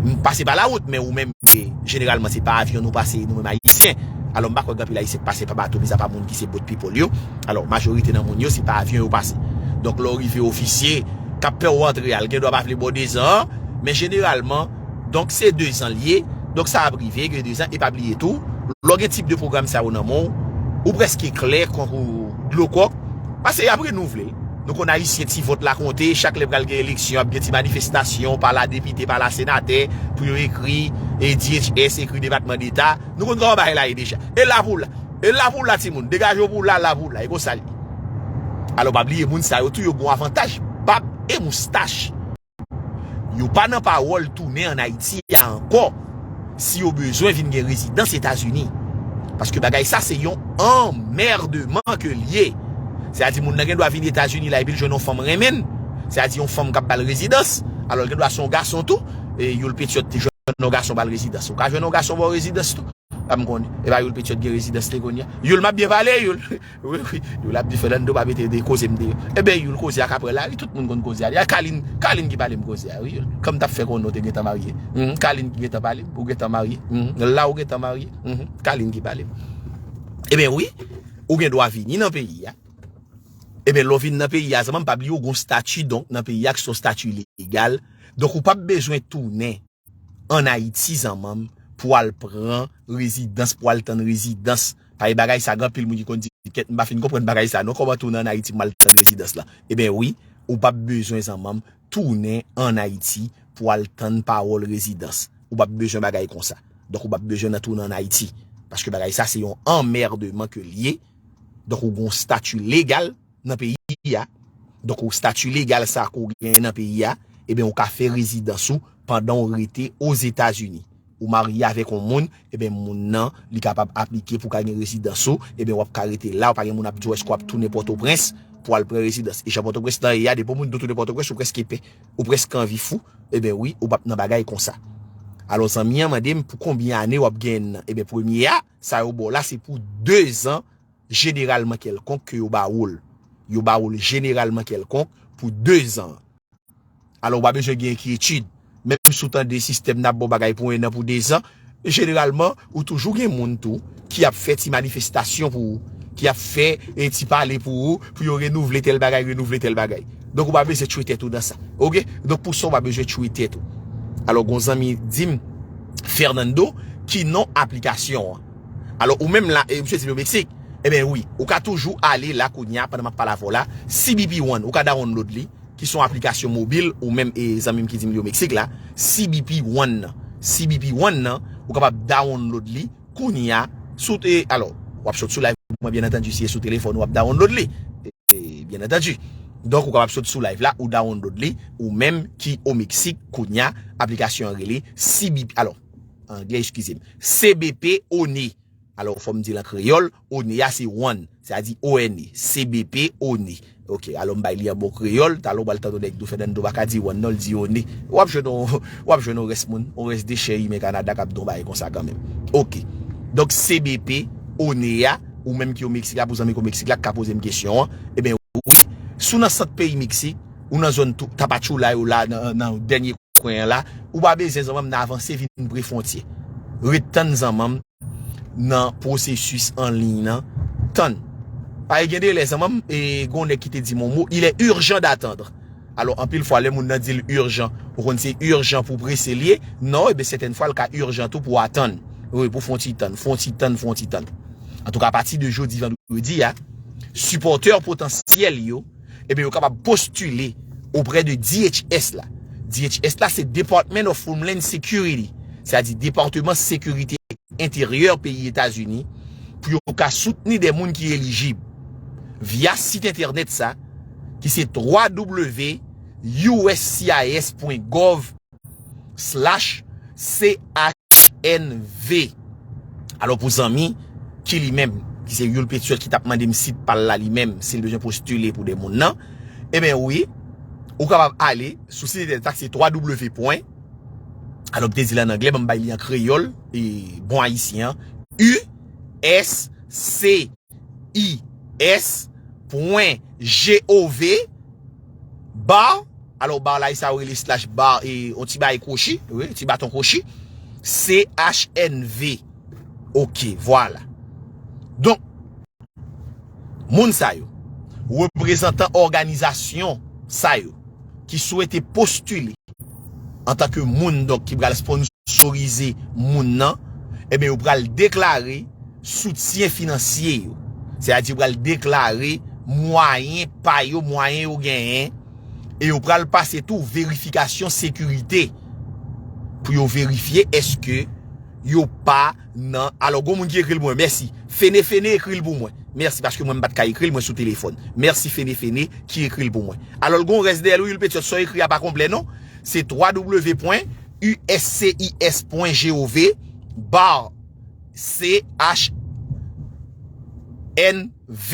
m pase pa la wout men ou menm se jeneralman se pa avyon nou pase nou menm ayisyen. Alò m pa kwè gen anpil ayisyen k pase pa bato mizapa moun ki se boat people yo. Alò, majorite nan moun yo se pa avyon yo pase. Donk lè w rive ofisye k ap fè w antre a l gen dwa pa vle ba w dezan an men jeneralman. Donk se 2 zan li ye, donk sa ap rive gen 2 zan e pa bliye tou lè w gen tip de pwogram sa yo nan men w, ou prèske klè kon dlo kòk pase y ap renouvle l. Nou konn Ayisyen ti vòt la konte, chak lè pral gen eleksyon ap gen ti manifestasyon pa la depite pa la senatè pou yo ekri DHS ekri depatman deta, nou konn kòman bagay la ye deja. E la pou w la, e la pou w la timoun, degaje w pou w la, la pou w la e konsa l ye. Alò pa bliye moun sa yo tou yo gon avantaj bab e moustach. Yo pa nan pawòl tounen an Ayiti a ankò si yo bezwen vin gen rezidans Etazini. Paske bagay sa se yon anmèdeman ke l ye. Se a di moun nan gen dwa vin Etazini la epi l jwenn yon fanm renmen l, se a di yon fanm k ap ba l rezidans, alò l gen dwa se yon gason tou, e Youl Petyòt te jwenn yon gason ba l rezidans. Ou ka jwenn yon gason ba w rezidans tou. Pa m konnen. Epa Youl Petyòt gen rezidans li kounye a. Youl m ap byen pale Youl. Wi wi youl ap di Fernando pa mete de kozem deyò Ebyen youl koze a kaprè la wi tout moun konn koze a li a Carline Carline ki palem koze a wi youl Kòm tap fè konnen ou te gentan marye humm Carline ki gentan palem ou gentan marye humm la ou gentan marye humm Carline ki palem Ebyen wi ou gen dwa vini nan peyi a Ebyen lè ou vin nan peyi a zanmanm pa bliye ou gon stati donk nan peyi a ki son stati legal donk ou pap bezwen tounen. an ayiti zanmanm pou al pran rezidans pou al tann rezidans pae bagay sa gan pil moun ki konn di kèt mpa fin konprann bagay sa non kòman tounen an ayiti pou mal tann rezidans la eben wi ou pap bezwen zanmanm tounen an ayiti pou al tann pawòl rezidans ou pap bezwen bagay konsa donk ou pap bezwen nan tounen an ayiti paske bagay sa se yon anmèdeman ke liye donk ou gon stati legal. nan peyi a, donk ou stati legal sa ke w genyen nan peyi a, eben ou ka fè rezidans ou pandan ou rete Ozetazini. Ou marye avèk yon moun, eben moun nan li kapab aplike pou ka gen rezidans ou, eben wap ka rete la, ou pa gen moun ap di w eske wap tounen Pòtoprens pou al pran rezidans. E jan Pòtoprens nan ye a, depi yon moun do tounen Pòtoprens ou preske pè, ou preske anvi fou, eben wi, ou pap nan bagay konsa. Alò zanmi an mande m pou konbyen ane wap genyen nan. Eben premye a, sa yo ba w la se pou 2 zan. jeneralman kèlkonk ke yo ba wou l. Yo ba wou l jeneralman kèlkonk pou 2 zan. Alò ou pa bezwen gen enkyetid. Menm si ou tande sistèm nan ap ba w bagay pou 1 an, pou 2 zan, jeneralman ou toujou gen moun tou ki ap fè ti manifestasyon pou ou, ki ap fè ti pale pou ou, pou yo renouvle tèl bagay, renouvle tèl bagay. Donk ou pa bezwen tchwe tèt ou nan sa. Oke? Donk pou sa ou pa bezwen tchwe tèt ou. Alò gon zanmi di m, Fernando, ki non aplikasyon an? Alò ou menm la, e misye di m yo Meksik, enben wi, ou ka toujou ale la kounye a pandan m ap pale avè w la, CBP One, ou ka dawonlod li, ki se yon aplikasyon mobil, ou menm e zanmi m ki di m li yo Meksik la, CBP One nan. CBP One nan, ou kapab dawonlod li kounye a sou te, alò, w ap sot sou live mwen byen antandu si e sou telefòn ou ap dawonlod li, e byen antandu. Donk ou kapab sot sou live la, ou dawonlod li, ou menm ki o Meksik kounye a, aplikasyon an rele CBP, alò. anglè eskize m, CBP, one, alò fò m di l an kreyòl, one a se one, se a di one, CBP, one, ok, alò m bay li an bon kreyòl, talè w pral tande yon nèk di w Fènando pa ka di one non, l di one, w ap jwenn yon, w ap jwenn yon rès moun, yon rès dechè imen Kanada k ap di yon bagay konsa kanmenm. Ok, donk CBP, one a, ou menm ki o Meksik la, pou zanmi ki o Meksik la k ka poze m kesyon an, eben wi, si w nan sant peyi Meksik, ou nan zòn Tapachula yo la nan dènye. kwen an la ou pa bezyen zanmanm nan avanse vin pre frontye ret tann zanmanm nan prosesus an liy nan tann pae gen delè zanmanm e gon nèg ki te di m on mo il est urgent d'attendre alo anpil fwa lè moun nan dil urgent ou konn se urgent pou prese liye non e ben sètèn fwa l ka urgent tou pou atann wi pou fon ti tann fon ti tann fon ti tann antouka apati de jodi vandredi a sipòtè potansyèl yo. Ebyen yo kapab postile oprè de DHS la. DHS la se Department of Homeland Security, se a di Departeman Sekirite Enteryè peyi Etazini pou yo ka soutni de moun ki elijib via sit entènèt sa ki se www.uscis.gov. Slash CHNV Alò pou zanmi ki li menm ki se Youl Petuel ki tap mande m sit pa l la li menm si l bezwen postile pou de moun nan Eben wi ou kapab ale sou sit entènèt la ki se ww pwen alò m te di l an anglè ban m bay li an kreyòl e bon ayisyen an USCIS pwen GOV. Bar, alò bar la e sa yo rele slash bar e yon ti bagay kwochi, wi, ti baton kwochi. CHNV. Ok, vwala. Donk, moun sa yo, reprezantan òganizasyon sa yo ki swete postile Antanke moun donk ki pral sponsorize moun nan, enben yo pral deklare soutyen finansye yo. Se a di yo pral deklare mwayen pa yo, mwayen yo genyen, e yo pral pase tou verifikasyon sekirite pou yo verifye eske yo pa. nan alò gon moun ki ekril pou mwen mèsi fene fene ekril pou mwen mèsi paske mwen mpat ka ekril mwen sou telefòn mèsi fene fene ki ekril pou mwen alòl gon rès dèyèl wi wilpetiòt sa w ekri a pa konplè non se www.uscis.gov bar ch NV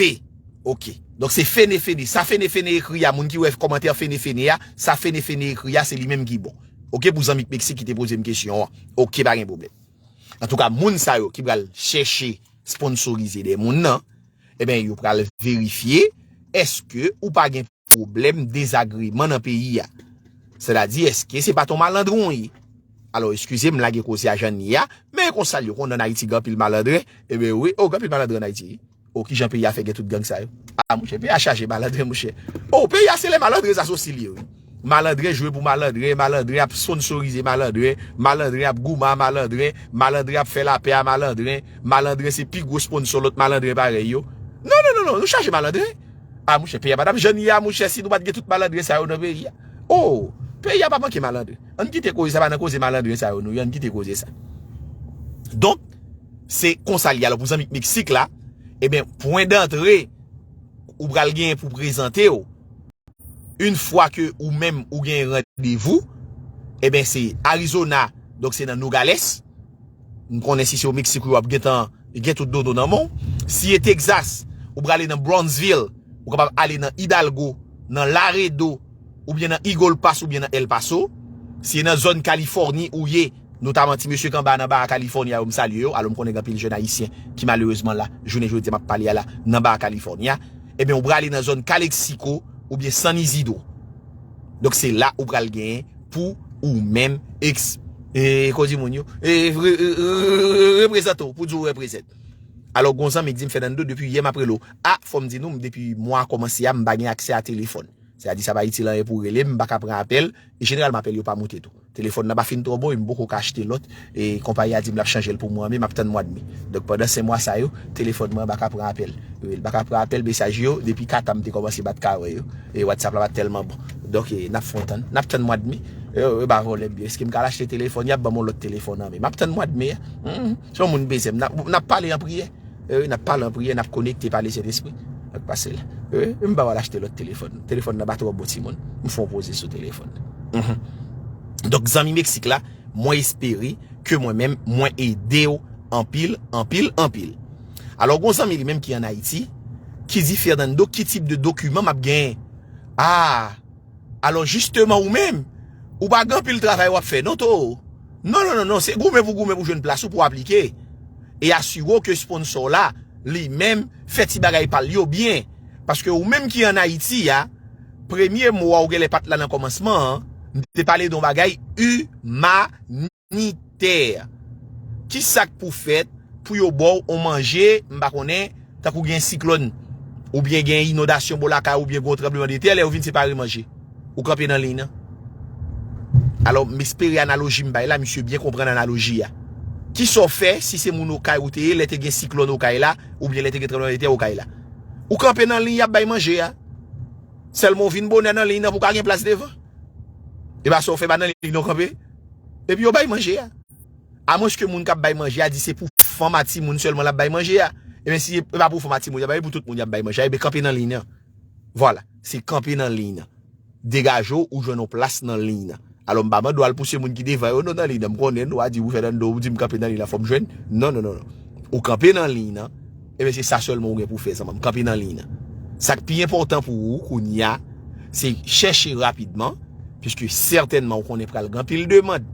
ok donk se fene fene sa fene fene ekri a moun ki wè kòmantè fene fene a sa fene fene ekri a se li menm ki bon ok pou zanmi k meksik ki te pozem kesyon an ok pa gen pwoblèm. Antouka moun sa yo ki pral chèche sponsorize de moun nan, eben yo pral verifye eske ou pa gen pwoblèm dezagreman nan peyi a. Sètadi eske se pa ton malandren ou ye. Alo eskize m lage koze a jan n ye a, men konsal yo konn an Ayiti gen anpil malandren, eben wi, o gen anpil malandren an Ayiti. Oh kijan peyi a fè gen tout gang sa yo ah monchè peyi a chaje malandren monchè oh peyi a se lè malandren sa se osi li ye wi malandren jwe pou malandren malandren ap sponsorize malandren malandren ap goumen a malandren malandren ap fè lapè a malandren malandren se pi gwo sponsor lòt malandren parèy yo non non non non nou chaje malandren ah monchè peyi a pa tap jann ye a monchè si nou pat gen tout malandren sa yo nan peyi a oh peyi a pa manke malandren ann kite koze sa pa nan koze malandren sa yo nou ye ann kite koze sa donk. Se konsa li ye. Alò pou zanmi Meksik la, eben pwen dantre ou pral genyen pou prezante ou, yn fwa ke ou menm ou gen randevou, eben se Arizona, donk se nan Nogales, m konnen si se o Meksik ou ye w ap gentan gen tout dodo nan men w. Si e Texas, ou prale nan Brownsville, ou kapab ale nan Hidalgo, nan Laredo, oubyen nan Eagle Pass oubyen nan El Paso. Si e nan zòn Californie ou ye. Notaman ti mesye kanba nan Baja California yo m salye yo, alò m konnen gen anpil jèn ayisyen ki malerezman la jounen jodi a m ap pale a la nan Baja California, ebyen ou prale nan zòn Calexico oubyen San Isidro donk se la ou pral gen pou ou menm eks. Eee kozi moun yo eee reprezante w pou di w represent. Alò gon zanmi k di m Fernando depi yè m ap rele w, a fò m di nou m depi mwa a kòmanse a m pa gen aksè a telefòn, sètadi sa pa itil anyen pou w rele m m pa ka pran apèl e jeneralman apèl yo pa moute tou. Telefòn nan pa fin twò bon e m poko ka achte lòt e konpayi a di m l ap chanje l pou mwa me, m ap tann mwa dmi. Donk pandan 5 mwa sa yo, telefòn mwen an pa ka pran apèl. L pa ka pran apèl, mesaj yo, depi 4 an m te kòmanse bat kawè yo e Whatsapp la pa t tèlman bon. Donk e n ap fon tann, n ap tann mwa dmi. Yo pa vòlè m yo. Èske m ka al achte telefòn? Y ap ban m yon lòt telefòn an men. M ap tann mwa dmi a. Humm, si yon moun bezwen m, n ap pale an priyè. N ap pale an priyè, n ap konekte pa Lesentespri. Sa k pase la? M pa pral achte lòt telefòn. Telefòn nan pa twò bon timoun. M fè yon poze sou telefòn nan. Donk zanmi Meksik la, mwen espere ke mwen menm mwen ede w anpil, anpil, anpil. Alò gen yon zanmi li menm ki an Ayiti ki di, Fernando, ki tip de dokiman m ap genyen? A! Alò jisteman ou menm, ou pa gen anpil travay w ap fè non too. Non non non non, se goumen pou goumen pou jwenn plas ou pou aplike. E asire w ke sponsò w la, li menm, fè ti bagay pa l yo byen. Paske ou menm ki an Ayiti a, premye mo a ou genlè pa t la nan kòmansman an, m te pale de yon bagay imanite. Humanitaire. Ki sak pou fèt pou yo baw on manje m pa konnen tankou gen siklòn ou byen gen inondasyon bò lakay ou byen gen yon tranbleman de tè lè yo vin separe manje ou kanpe nan liy nan. Alò m espere analoji m bay la misye byen konprann analoji a. Kisa w fè si se moun okay ou te ye lè te gen siklòn okay la ou byen lè te gen tranbleman de tè okay la. Ou kanpe nan liy yap bay manje a. Sèlman w vin bonè nan liy nan pou ka gen plas devan. E pa sa w fè pa nan liy nan w kanpe. Epi yo bay manje a. A mwens ke moun kap bay manje a di se pou fanm a timoun sèlman lap bay manje a. Ebyen si e pa pou fanm a timoun yap bay, se pou tout moun yap bay manje a, ebyen kanpe nan liy nan. Vwala. Se kanpe nan liy nan. Degaje w ou jwenn yon plas nan liy nan. Alò m pa mande w al pouse moun ki devan yo non nan liy nan. M konnen nou a di ou fè nan do w, ou di m kanpe nan liy nan fò m jwenn. Non non non non. Ou kanpe nan liy nan. Ebyen se sa sèlman ou gen pou fè zanmanm, kanpe nan liy nan. Sak pi enpòtan pou ou kounya se chèche rapidman, piske sètènman ou konnen pral gen anpil demand,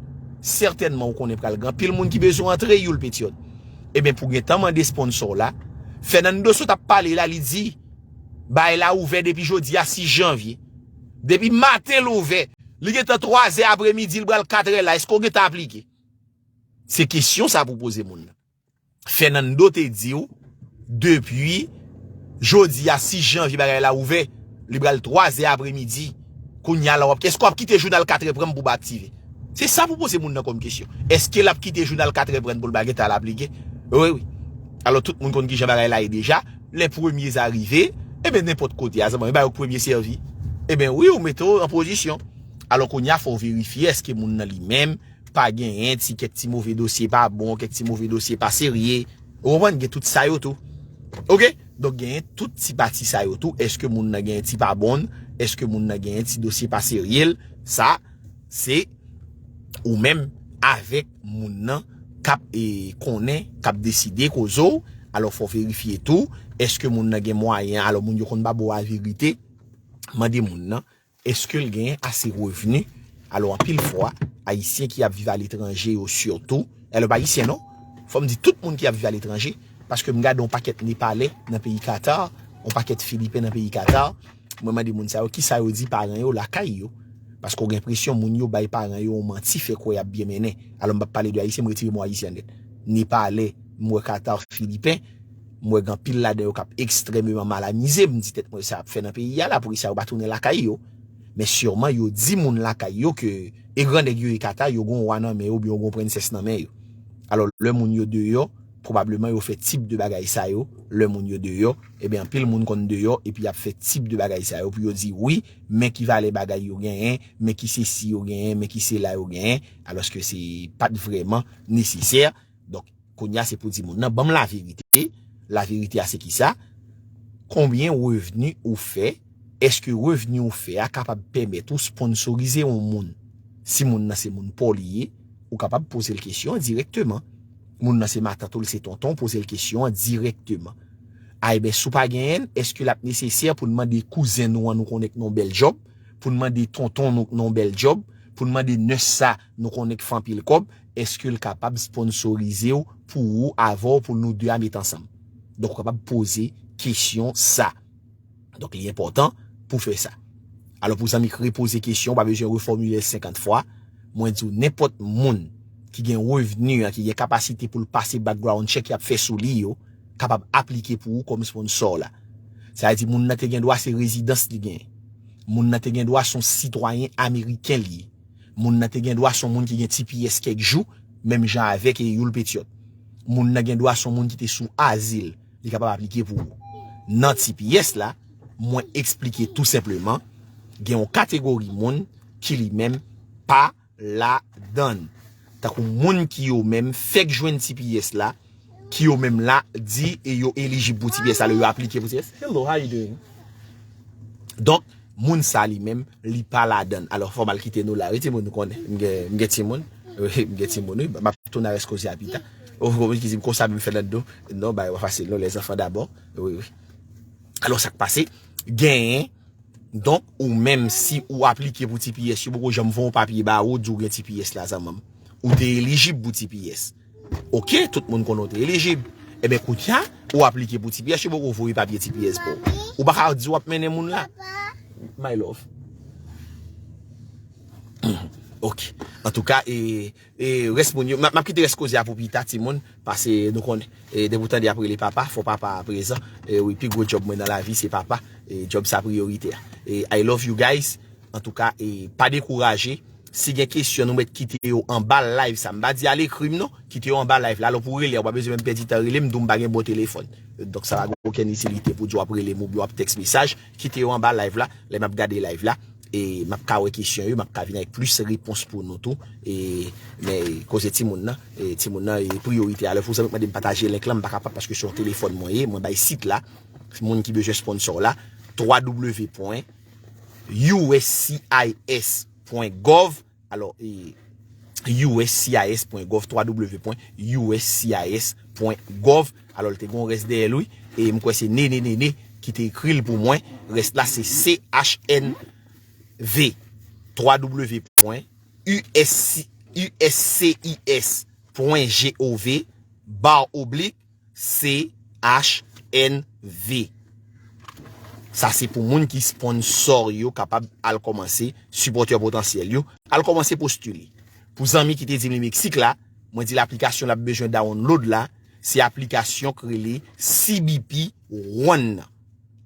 sètènman ou konnen pral gen anpil moun ki bezwen antre youl petyòt. Ebyen pou gentan mande sponsò w la, Fernando sot ap pale la li di bay la ouvè depi jodi a 6 janvye. Depi maten l ouvè, li gentan 3 zè apremidi li pral 4 è la, èske ou gentan aplike? Se kesyon sa pou poze moun nan. Fernando te diw depi Jodi a 6 janvye bagay la ouvè li pral 3 zè apre midi kounya la wap eske wap kite jounal 4 è pranm pou pa aktive se sa pou poze moun nan kòm kesyon eske lap kite jounal 4 è prann poul pa gentan al aplike wi wi alò tout moun konn kijan bagay la ye deja lè premye sa rive eben nenpòt kote a zanmanm e bay ok premye sèvi eben wi ou mete w an pozisyon alò kounya fòw verifye eske moun nan li menm. Pa genyen ti kèk ti move dosye pa bon, kèk ti move dosye pa serye. Ou konprann? Gen tout sa yo tou. Ok? Donk genyen tout ti pati sa yo tou. Eske moun nan genyen ti pa bon l? Eske moun nan genyen ti dosye pa serye l? Sa, se ou menm avèk moun nan k ap e konnen, k ap deside koze w. Alò fò w verifye tou. Eske moun nan gen mwayen? Alò moun yo konn pa ba w averite. Mande moun nan Eske l genyen ase revni? Alò anpil fwa, Ayisyen ki ap viv aletranje yo sitou, e lè pa Ayisyen non, fò m di tout moun ki ap viv aletranje, paske m gade yon pakèt Nepalè nan peyi Katar, yon pakèt Filipen nan peyi Katar, mwen mande moun sa yo ki sa yo di paran yo lakay yo. Paske w gen enpresyon moun yo bay paran yo yon manti fè kwè y ap byen mennen. Alò m p ap pale de Ayisyen, m retire mo Ayisyen an nèt. Nepalè, m wè Katar, Filipen. M wè gen anpil ladan yo k ap ekstrèmeman mal amize. M di tèt mwen sa y ap fè nan peyi a la? Poukisa yo pa tounen lakay yo? Men siman yo di moun lakay yo ke e gran nèg yo e kata, yo gen yon wa nan men yo oubyen yo gen yon prensès nan men yo. Alò, lè moun yo deyò, pwobableman yo fè tip de bagay sa yo. Lè moun yo deyò, enben anpil moun konn deyò epi y ap fè tip de bagay sa yo pou yo di, wi, men ki valè bagay yo genyen, men ki sesi yo genyen, men ki sela yo genyen, alòske se pa t vrèman nesesè. Donk, kounye a se pou di moun nan, banm la verite, la verite a se ki sa, konbyen revni ou fè, eske revni ou fè a kapab pèmèt ou sponsorize yon moun, si moun nan se moun paw li ye, ou kapab pozel kesyon an direkteman, moun nan se matant ou li se tonton w pozel kesyon an direkteman. A eben si w pa genyen l, eske lap nesesè poun mande kouzen nou an nou konnen k nan yon bèl djòb, poun mande tonton nou k nan yon bèl djòb, poun mande nè sa, Nou konnen k fè anpil kòb, eske l kapab sponsorize w pou ou avè w pou nou 2 a met ansanm? Donk ou kapab poze kesyon sa. Donk li enpòtan pou fè sa. Alò pou zanmi k repoze kesyon, ou pa bezwen refòmile l 50 fwa. Mwen di w nenpòt moun ki gen revni a, ki gen kapasite pou l pase background check y ap fè sou li yo, kapab aplike pou ou kòm sponsò w la. Sa vle di moun nan te gen dwa se rezidans li genyen. Moun nan te gen dwa se yon sitwayen ameriken li ye. Moun nan te gen dwa son moun ki gen ti pyès kèk jou, menm jan avèk e Youl Petyòt. Moun nan gen dwa son moun ki te sou azil, li kapab aplike pou ou. Nan ti pyès la, mwen eksplike tou senpleman, gen yon kategori moun ki li menm pa ladann. Tankou moun ki yo menm fèk jwenn tps la, ki yo menm la di e yo elijib pou tps la lè yo aplike pou tps. Hello how you doing? Donk moun sa li menm li pa ladann. Alò fò mal kite nou la wi timoun nou konnen m gen timoun. M gen timoun wi map tou nan rès koze a pita. Ou konprann ki di m konsa menm fè nan do. Non bagay pa fasil non lè zanfan dabò. Wi wi. Alò sak pase genyen. Donk ou menm si ou aplike pou tps yo poko janm fon papye ba ou di ou gen tps la zanmanm. Ou te elijib pou tps. Ok tout moun konnen ou te elijib. Eben kounya ou aplike pou tps yo poko voye papye tps ba ou. Ou pa ka di wap mennen moun la. My love. Ok. Antouka e E res moun yo, map kite res koze a pou pita timoun, pase nou konnen, e depi w tande yap rele papa, fò papa a prezan, e wi pi gwo job mwen nan lavi se papa, e job sa priyorite a. E I love you guys, antouka e pa dekouraje, si gen kesyon nou met kite yo anba live sa, m pa di al ekri m non, kite yo anba live la, alò pou w rele a ou pa bezwen menm pèdi tan rele m, m di w m pa gen bon telefòn, donk sa pa gen okenn itilite pou w di wap rele m oubyen wap tèks mesaj. Kite yo anba live la, lè map gade live la e map ka wè kesyon yo, map ka vin avèk plis repons pou nou tou e men koze timoun nan, timoun nan e priyorite a. Lè fò zanmi mandem pataje link lan m pa kapab paske se yon telefòn mwen ye, mwen bay sit la moun ki bezwen sponsor la www. Uscis. Gov. Alò e uscis pwen gov ww pwen uscis pwen gov alò l te gon rès dèyè l wi e m kwè se Nene Nene ki te ekri l pou mwen rès la se chnv ww pwen uscis pwen gov bar oblik CHNV Sa se pou moun ki sponsor yo kapab al kòmanse, sipòtè potansyèl yo, al kòmanse postile. Pou zanmi ki te di m li Meksik la, mwen di l aplikasyon l ap bezwen download la, se aplikasyon k rele CBP One nan.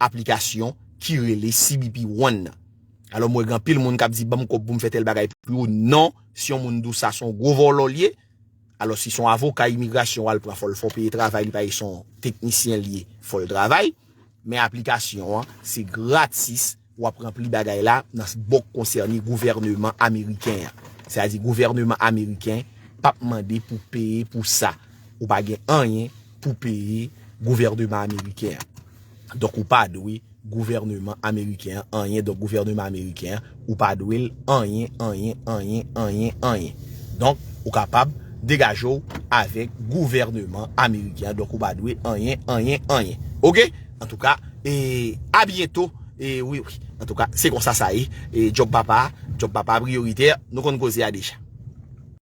Aplikasyon ki rele CBP One nan. Alò m wè gen anpil moun k ap di ban m kòb pou m fè tèl bagay pou ou. Non, si yon moun di w sa, se yon gwo vòlò l ye. Alò si son avoka imigrasyon wal pran fòl fò peye travay li paye son teknisyen liye fòl travay men aplikasyon an se gratis wap ranpli bagay la nan bòk konsène gouvèneman ameriken an se a di gouvèneman ameriken pap mande pou peye pou sa ou pa gen anyen pou peye gouvèneman ameriken an. Donk ou pa dwe gouvèneman ameriken an anyen donk gouvèneman ameriken an ou pa dwe l anyen anyen anyen anyen anyen donk ou kapab degaje w avèk gouvèneman ameriken an donk ou pa dwe anyen anyen anyen ok antouka e a byento e wi wi antouka se konsa sa ye e djòb papa djòb papa priyoritè nou konn koze a deja.